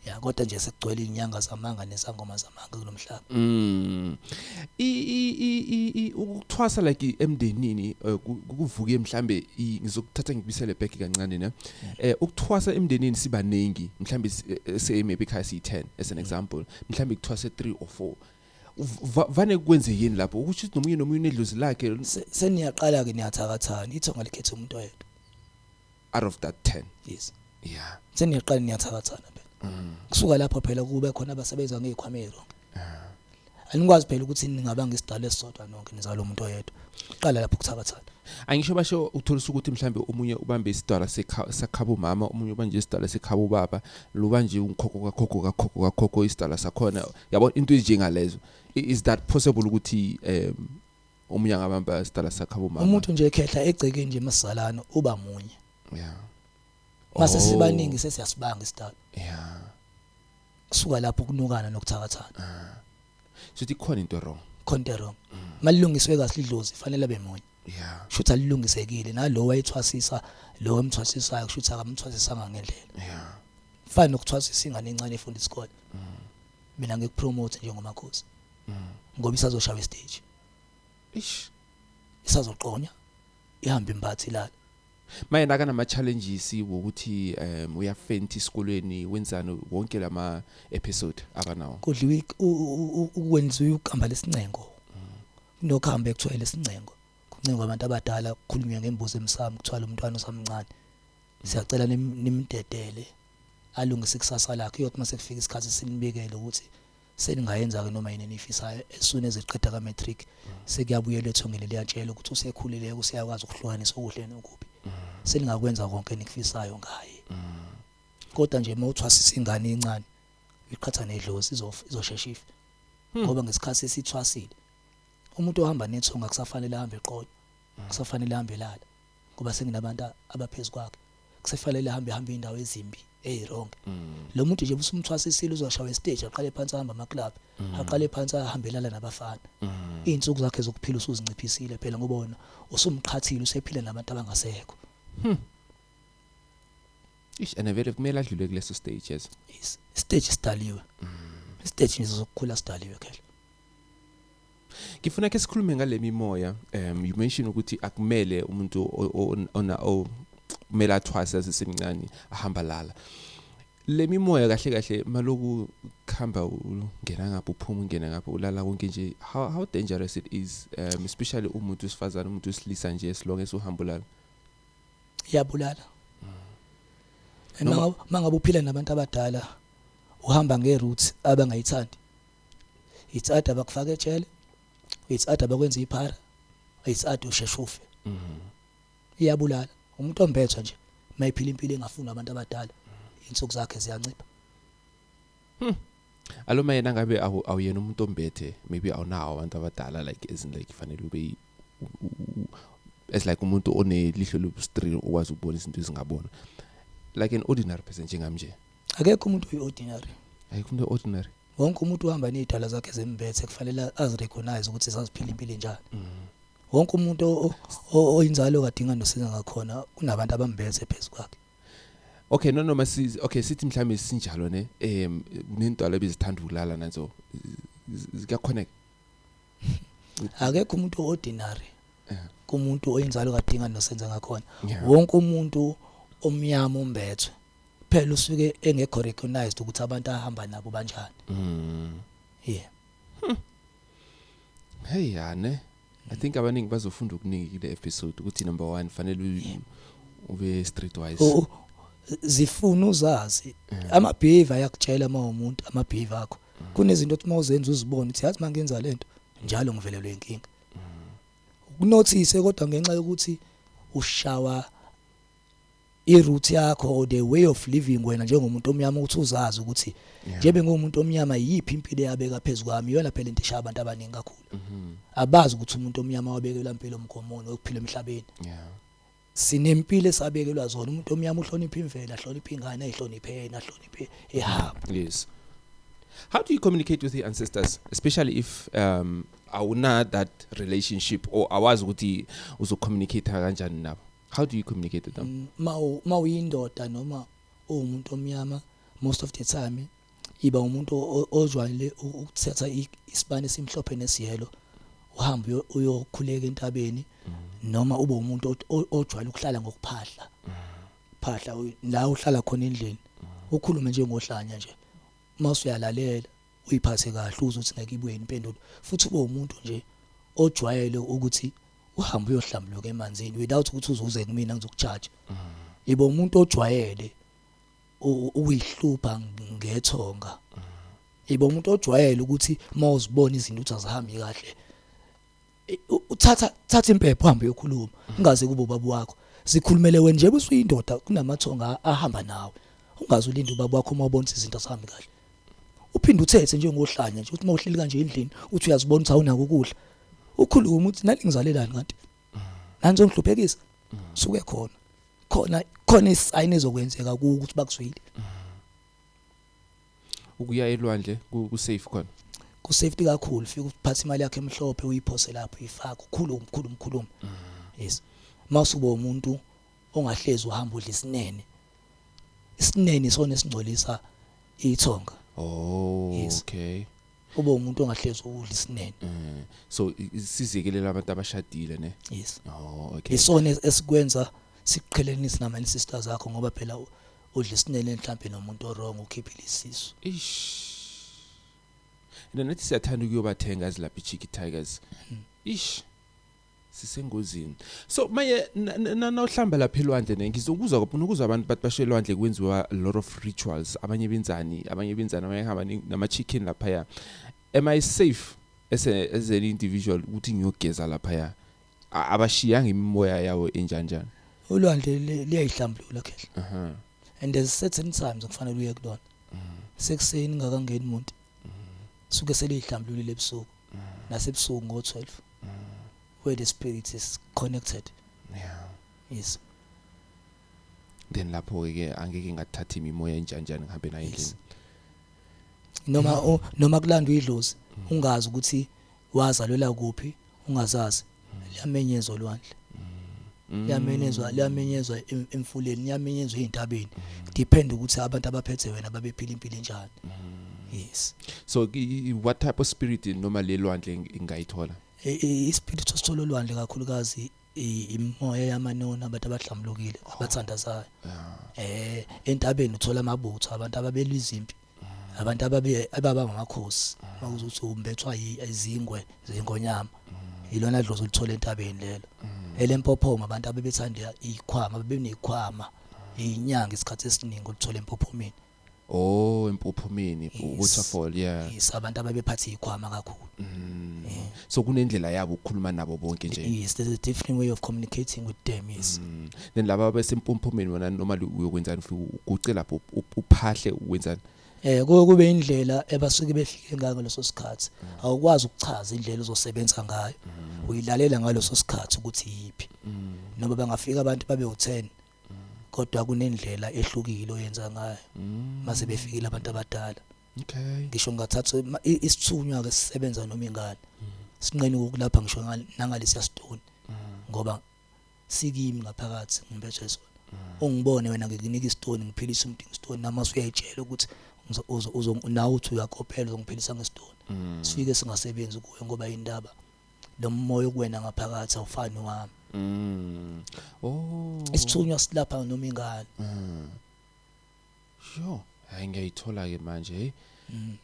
ya kodwa nje sekugcwele inyanga zamanga nesangoma zamanga kulomhlaba Mm. I i i i- i ukuthwasa like i- emndenini eh, ku- kuvuke mhlambe i- ngizokuthatha ngibisele back kancane ne. Eh ukuthwasa emndenini sibaningi mhlambe si- eh, say maybe ekhaya siyi 10 as an example. Mhlambe kuthwase 3 or 4. Va- vane kwenzekeni lapho ukuthi nomunye nomunye unedlozi lakhe Se- seniyaqala ke niyathakathana ithonga likhetha umuntu oyedwa out of that 10 yes yeah seniyaqala niyathakathana phela kusuka lapho phela kube khona abasebenza ngey'khwama ezironke anikwazi phela ukuthi ningaba ngesidalo esisodwa nonke nizalo muntu oyedwa kuqala lapho kuthakathana angisho basho utholisa ukuthi mhlambe omunye ubambe isidwala sekha- sakhaba umama omunye ubanje isidwala sekhaba ubaba luba nje ungikhokho kakhokho kakhokho kakhokho isidwala sakhona yabo into ezinjengalezo is that possible ukuthi um omunye angabamba sidala sakhe abomama umuntu nje ekhehla egcekeni nje masalana uba munye yeah mase oh. sibaningi sesiyasibanga isidala yeah kusuka lapho kunukana nokuthakathana ah. sithi khona into wrong khona into wrong mm. malilungiswe kahle idlozi fanele bemunye yeah shutha lilungisekile nalowo wayethwasisa lowo emthwasisayo shutha akamthwasisanga ngendlela yeah fana nokuthwasisa ingane encane efunda isikole mina ngikupromote njengomakhosi ngoba isazoshaya stage ish isazoqonya ihamba imphathi ilala maye naka nama challenges ukuthi um uyafenta isikolweni wenzani wonke lama episode akanawo kudliwa ukwenziwa ukugamba lesincengo nokuhamba ekuthiwa lesincengo kuncengwa abantu abadala kukhulunywa ngembuzi emsamo kuthiwa lo mntwana usamncane siyacela nimdedele alungise ikusasa lakhe uyothi uma sekufika isikhathi sinibikele ukuthi seningayenza-ke noma yini eniyifisayo as soon as eqeda ka-matric sekuyabuyela ethongeni liyatshelwa ukuthi usekhulileke useyakwazi ukuhlukanisa okuhle nokubi seningakwenza konke enikufisayo ngaye kodwa nje uma uthwasisa ingane incane uyiqhatha nedlozi izoshesha ife hmm. ngoba ngesikhathi esithwasile umuntu ohamba nethonga kusafanele ahambe eqolo kusafanele ahambe lala ngoba senginabantu abaphezulu kwakhe kusefanele ahambe hambe indawo ezimbi hey wrong mm. lo muntu nje usumthwasisile uzoshawa stage aqale phansi ahamba ama club mm. aqale phansi ahambelana nabafana mm. izinsuku zakhe zokuphila usuzinciphisile phela ngoba wona usumqhathile usephila nabantu abangasekho hmm. ish and vele kumele adlule kuleso stage yes stage sidaliwe mm. stage nje sokukhula sidaliwe khela Ngifuna ke sikhulume ngale mimoya um you mention ukuthi akumele umuntu ona o kumele athwase asesemncane ahamba lala le mimoya kahle kahle maloku khamba ungena ngapha uphuma ungena ngapha ulala konke nje how how dangerous it is um especially umuntu usifazana umuntu usilisa nje silonge sohamba ulala iyabulala mm. mangabe uphila nabantu abadala uhamba nge route abangayithandi it's either bakufaka ejele it's either bakwenza iphara it's either usheshe ufe mhm. iyabulala umuntu ombetha nje mayiphila impilo engafuni abantu abadala insuku zakhe ziyancipha hmm. aloma yena ngabe awuyena umuntu ombethe maybe awunawo abantu abadala like as in like fanele ube as like umuntu onelihlo lobustream okwazi ukubona izinto ezingabona like an ordinary person njengamnje akekho umuntu oyi-ordinary ayikho umuntu ordinary wonke umuntu uhamba nezidala zakhe zembethe kufanele azirecognize ukuthi saziphila impilo enjani mm. wonke umuntu oyinzalo kadinga nosiza ngakhona kunabantu abambethe phezu kwakhe Okay no noma si okay sithi mhlambe sinjalo ne em kunentwala ebizithanda ukulala nanzo zikakhonek akekho umuntu ordinary eh. kumuntu oyinzalo kadinga nosenza ngakhona wonke umuntu omnyama umbethwe phela usuke engekho recognized ukuthi abantu ahamba nabo banjani mm yeah hmm. hey yane i think abaningi bazofunda okuningi kule episode ukuthi number 1 fanele ube street wise oh, oh. zifuna uzazi ama behavior yakutshela uma umuntu ama behavior akho kunezinto othi mawuzenza uzibone ukuthi yazi mangenza lento njalo ngivelelwe inkinga ukunothise kodwa ngenxa yokuthi ushawa i root yakho or the way of living wena njengomuntu omnyama ukuthi uzazi ukuthi nje bengumuntu omnyama yiphi impilo yabeka phezulu kwami iyona phela into eshaya abantu abaningi kakhulu mm-hmm. abazi ukuthi umuntu omnyama wabekelwa impilo omgomoni okuphila emhlabeni sinempilo esabekelwa zona umuntu omnyama uhlonipha imvelo ahlonipha ingane ayihloniphe yena ahloniphe ehamba yes how do you communicate with your ancestors especially if um awuna that relationship or awazi ukuthi uzocommunicate kanjani nabo how do you communicate with them ma ma uyindoda noma uwumuntu omnyama most of the time iba umuntu ozwayile ukuthatha isibani simhlophe nesiyelo uhambe uyokhuleka entabeni mm-hmm. noma ube umuntu ojwayele ukuhlala ngokuphahla mm-hmm. phahla la uhlala khona endlini mm-hmm. ukhulume nje ngohlanya nje masuyalalela uyiphathe kahle uzothi ngeke ibuye impendulo futhi ube umuntu nje ojwayele ukuthi uhambe uyohlambuluka emanzini without ukuthi uzuze kumina ngizokujudge mm. ibo umuntu ojwayele uyihlupha ngethonga mm. ibo umuntu ojwayele ukuthi mawuzibona izinto ukuthi azihambi kahle uthatha thatha impepho uhambe uyokhuluma mm. ungaze kubo babu wakho sikhulumele wena nje busuyindoda kunamathonga ahamba nawe ungaze ulinde ubaba wakho uma ubona izinto azihambi kahle uphinde uthethe njengohlanya nje ukuthi uma uhleli kanje endlini uthi uyazibona ukuthi awunako ukudla ukhuluma ukuthi nani ngizalelani kanti nani zongihluphekisa suke khona khona khona isayini ezokwenzeka ukuthi bakuzwile ukuya elwandle ku safe khona ku safety kakhulu fika uphatha imali yakhe emhlophe uyiphose lapho ifaka ukhulu umkhulu umkhulu yes mawusubo umuntu ongahlezi uhamba udla isinene isinene isona esingcolisa ithonga oh yes. okay ube umuntu ongahlezi ukudla isinene mm. so sizikelele abantu abashadile ne yes oh okay isona esikwenza sikuqhelenise nama sisters akho ngoba phela udla isinene mhlawumbe nomuntu orong ukhiphile isisu ish and nathi siyathanda ukuyobathenga ezilapha ichiki tigers hmm. ish sisengozini so manje nawuhlamba lapha elwandle ne ngizokuzwa kakhulu ukuzwa abantu bathi bashe elwandle kwenziwa a lot of rituals abanye benzani abanye benzani abanye hamba nama chicken lapha ya am i safe as a, as an individual ukuthi ngiyogeza lapha ya abashiyanga imimoya yawo enjanjani ulwandle liyayihlambulula khehla uh -huh. and there's certain times okufanele uye kulona uh -huh. sekuseni ngakangeni umuntu uh -huh. suke seliyihlambululile ebusuku nasebusuku ngo 12 where the spirit is connected yeah yes then lapho ke angeke ngathatha imimoya enjanjani ngihambe nayo endlini noma noma kulandwa idlozi ungazi ukuthi wazalwela kuphi ungazazi liyamenyezwa olwandle mm. liyamenyezwa liyamenyezwa emfuleni liyamenyezwa ezintabeni mm. depend ukuthi abantu abaphethe wena babephila impilo enjani mm. yes so what type of spirit noma lelwandle ingayithola i spirit osithola olwandle kakhulukazi imoya yamanoni abantu abahlambulukile oh. abathandazayo eh entabeni uthola amabutho abantu ababelwa izimpi abantu ababe ababa ngamakhosi bakuze uthi umbethwa izingwe zengonyama ilona dlozi olithola entabeni lelo elempophoma abantu abebethanda ikhwama bebenekhwama inyanga isikhathi esiningi olithola empophomeni oh empophomeni waterfall yeah isabantu ababephatha ikhwama kakhulu mm. so kunendlela yabo ukukhuluma nabo bonke nje yes there's a different way of communicating with them yes mm. then laba abasempumpumeni wena noma uyokwenzani ufike uguce lapho uphahle wenzani eh kube indlela ebasuke befike ngayo ngaleso sikhathi mm. awukwazi ukuchaza indlela ozosebenza ngayo mm. uyilalela ngaleso sikhathi ukuthi yipi mm. noma bangafika abantu babe u10 kodwa kunendlela ehlukile oyenza ngayo mase befikile abantu abadala okay ngisho ngathatha isithunywa ke sisebenza noma ingane mm. sinqeni ukulapha ngisho nangalesiya stone mm. ngoba sikimi ngaphakathi ngibethe sona mm. ungibone wena ngikunika istone ngiphilisa umuntu ngistone namasu uyayitshela ukuthi uzo nawe uthi uyakophela uzongiphilisa ngestone sifike singasebenzi kuwe ngoba indaba lo moya okuwena ngaphakathi awufani wami oh isithunywa silapha noma ingane Yo, hayi ngiyayithola ke manje hey. Mm.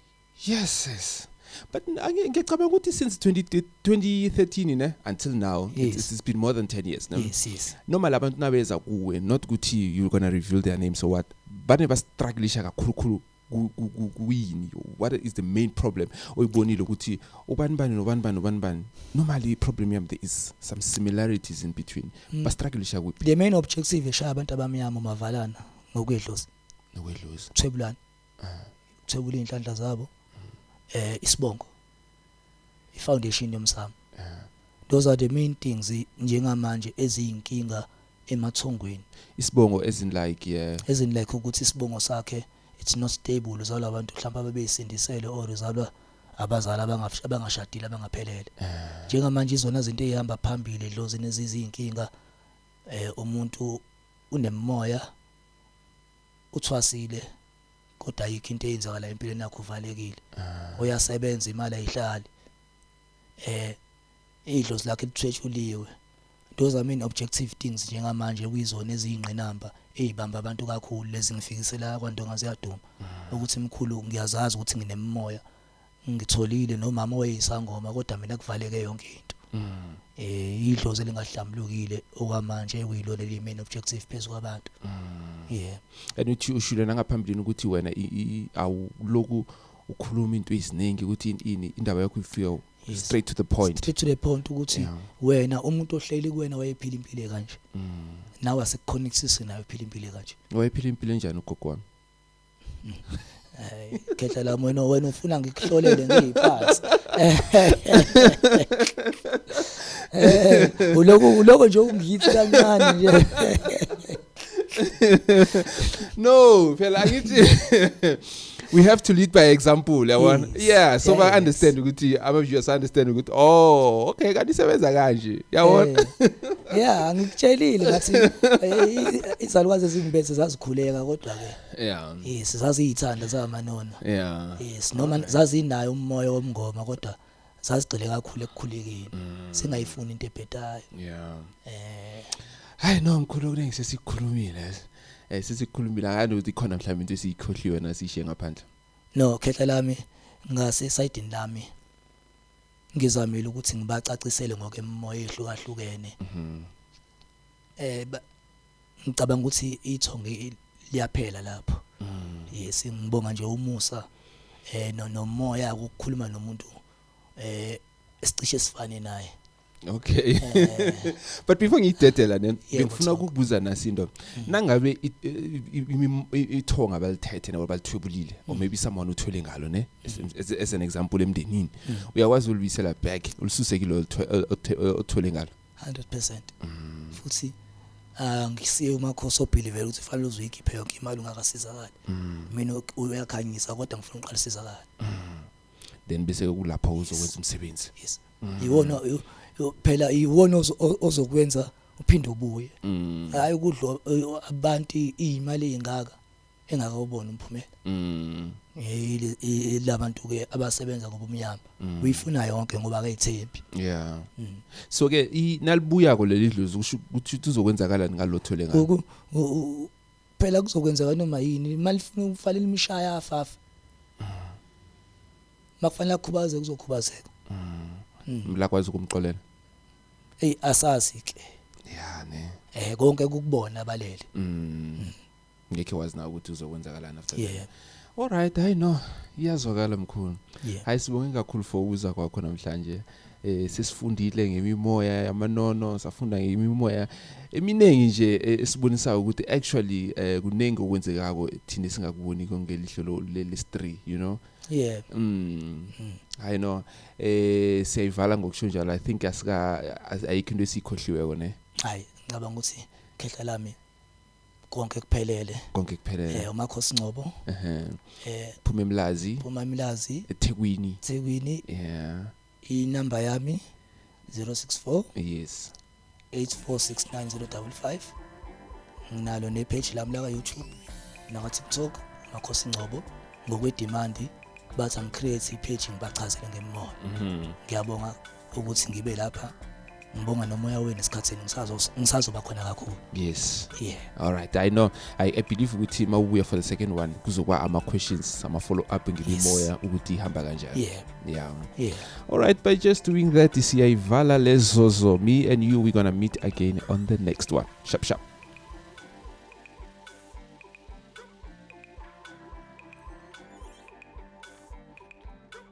Yes yes. But ngicabanga ukuthi since 20, 2013 ne until now yes. it's, it's been more than 10 years no. Yes yes. Noma labantu nabeza kuwe not ukuthi you're going to reveal their names or what. Bane ba struggleisha kakhulukhulu kuyini what is the main problem oyibonile ukuthi ubani bani nobani bani nobani bani normally i problem yam there is some similarities in between mm. ba struggleisha kuphi the main objective eshaya abantu abamnyama mavalana nokuyedlozi nokwedlozi thwebulani ah. thwebula inhlanhla zabo eh isibongo i foundation yomsamo ah. those are the main things njengamanje eziyinkinga emathongweni isibongo as in like yeah as in like ukuthi isibongo sakhe it's not stable uzalwa abantu mhlawumbe abebeyisindisele or uzalwa abazali abangashadile abangaphelele ah. njengamanje izona zinto ezihamba phambili dlozi nezizinkinga eh umuntu Unemimoya, uthwasile kodwa ayikho into eyenzakala empilweni yakhe uvalekile. Ah. Uyasebenza imali ayihlali. Eh idlozi lakhe lithwetshuliwe. Those are main objective things njengamanje kuyizona eziyingqinamba ezibamba abantu kakhulu lezi ngifikisela kwaNdonga ziyaduma ah. ukuthi mkhulu ngiyazazi ukuthi nginemimoya ngitholile nomama owayeyisangoma kodwa mina kuvaleke yonke into mm. eh idlozi elingahlambulukile okwamanje ekuyilona elimain objective phezu kwabantu mm. yeah and uthi ushilo nangaphambilini ukuthi wena awuloku ukhuluma into eziningi ukuthi ini indaba yakho ifika straight to the point straight to the point ukuthi wena umuntu ohleli kuwena wayephila impilo kanje mm. nawe asikuconnectise nayo phila impilo kanje wayephila impilo enjani ugogo wami Hey, khehla la wena wena ufuna ngikuhlolele ngiyiphansi. Eh, uloko uloko nje ungiyithi kancane nje. no phela angithi we have to lead by example yabona yes. yeah so yes. ba understand ukuthi ama viewers understand ukuthi oh okay kanti isebenza kanje yabona eh. yeah ngikutshelile ngathi eh, izalukwazi ezimbese zazikhuleka kodwa ke yeah yes zaziyithanda zamanona yeah yes noma zazinayo umoya womngoma kodwa sazigcile kakhulu ekukhulekeni mm. singayifuni into ebhedayo yeah eh hayi no mkhulu kuningi sesikhulumile eh sesikhulumile akani ukuthi khona mhlawumbe into esiyikhohliwe nasishe ngaphandle no khehla lami ngase side lami ngizamile ukuthi ngibacacisele ngoke emoya ehlukahlukene mhm. eh Ngicabanga ukuthi ithonge liyaphela lapho. Mm. Yes, ngibonga nje umusa eh no nomoya ukukhuluma nomuntu eh sicishe sifane naye. Okay. Eh. But before ngidedela ne ngifuna ukukubuza nasinto. Mm. Nangabe ithonga balithethe nabo balithwebulile or mm. maybe someone uthwele ngalo ne mm. as an example emndenini. Uyakwazi ulibisela back ulisuseke lo othwele ngalo. 100% mm. futhi ah, ngisiye umakhosi obelieve ukuthi fanele uzoyikhiphe yonke imali ungakasizakali mm. mina uyakhanyisa kodwa ngifuna uqala sizakala mm. then bese kulapho uzokwenza umsebenzi yes iwona phela iwona ozokwenza uphinde ubuye hayi ukudlo abantu imali engaka engakawuboni umphumela mm ilabantu ke abasebenza ngobumnyama mm. uyifuna yonke ngoba akayithembi yeah mm. so ke nalibuya ko leli dlozi kusho ukuthi uzokwenzakalani ngalothole ngakho phela kuzokwenzeka noma yini imali ifuna ukufalela imishaya afafa makufanele akhubaze kuzokhubazeka mlakwazi mm. mm. ukumxolela hey asazi ke ya ne eh konke kukubona balele mm. ngekhe wazi na ukuthi uzokwenzakalani after yeah. that alright hayi no iyazwakala mkhulu yeah. hayi sibonge kakhulu for ukuza kwakho namhlanje eh sesifundile ngemimoya yamanono safunda ngemimoya eminingi nje eh, esibonisa ukuthi actually eh, kuningi okwenzekako thina singakuboni kongelihlo leli 3 you know yeah mm, mm. i know eh siyayivala ngokusho njalo i think asika ayikho into esikhohliweko ne hayi ngicabanga ukuthi khehla lami konke kuphelele konke kuphelele eh umakhosi Ngcobo ehe eh phuma emlazi phuma emlazi eThekwini eThekwini yeah inamba yami 064 yes 8469055 nginalo ne page lami la ka YouTube naka TikTok makhosi Ngcobo ngokwe demand bathi angicreate ipage ngibachazele ngemimoya mhm. ngiyabonga ukuthi ngibe lapha ngibonga nomoya wenu esikhathini ngisazoba khona kakhulu yes yeah all right i know i, I believe ukuthi uma ubuya for the second one kuzokuba ama questions ama follow up ngibimoya yes. ukuthi ihamba kanjani yeah yeah yeah all right by just doing that siyayivala lezozo me and you we're gonna meet again on the next one sharp sharp